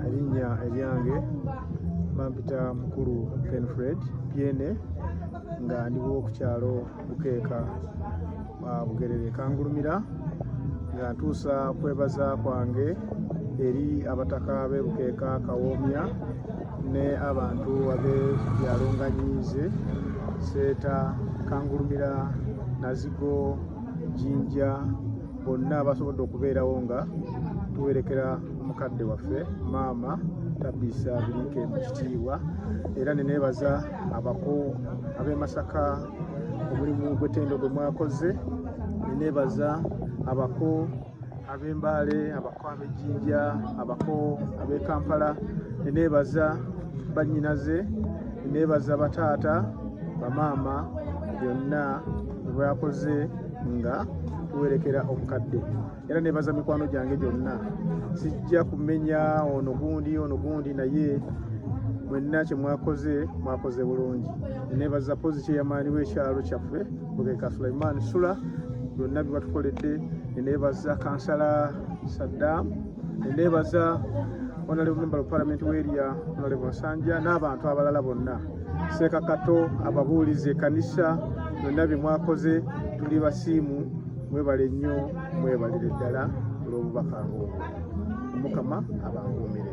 erinnya eryange bampita mukulu penfred pyene nga ndiwo ku kyalo bukeeka bugerere kangulumira nga ntuusa kwebaza kwange eri abataka be bukeeka kawoomya ne abantu abe byalonganyiize seeta kangulumira nazigo jinja bonna abasobodde okubeerawo nga tuwerekera omukadde waffe maama tabiisa biriike mu kitiibwa era neneebaza abako ab'e masaka omulimu gw'ettendo gwe mwakoze neneebaza abako ab'embaale abako ab'ejjinja abako ab'e kampala neneebaza bannyinaze neneebaza bataata bamaama byonna bwakoze nga tuwerekera obukadde era nebaza mikwano gyange gyonna sijja kumenya ono gundi ono gundi naye mwenna kyemwakoze mwakoze bulungi nebaza pozi kyeyamaani wekyalo kyaffe bugeka sulaiman sula byonna byebatukoledde nebaza kansala saddam Ndeebaza Honorable Member of Parliament w'eria Honorable Nsanja n'abantu abalala bonna Seeka Kato ababuulizi ekanisa byonna bye mwakoze tuli basiimu mwebale nnyo mwebalire ddala olw'obubaka ng'obwo Mukama abankuumire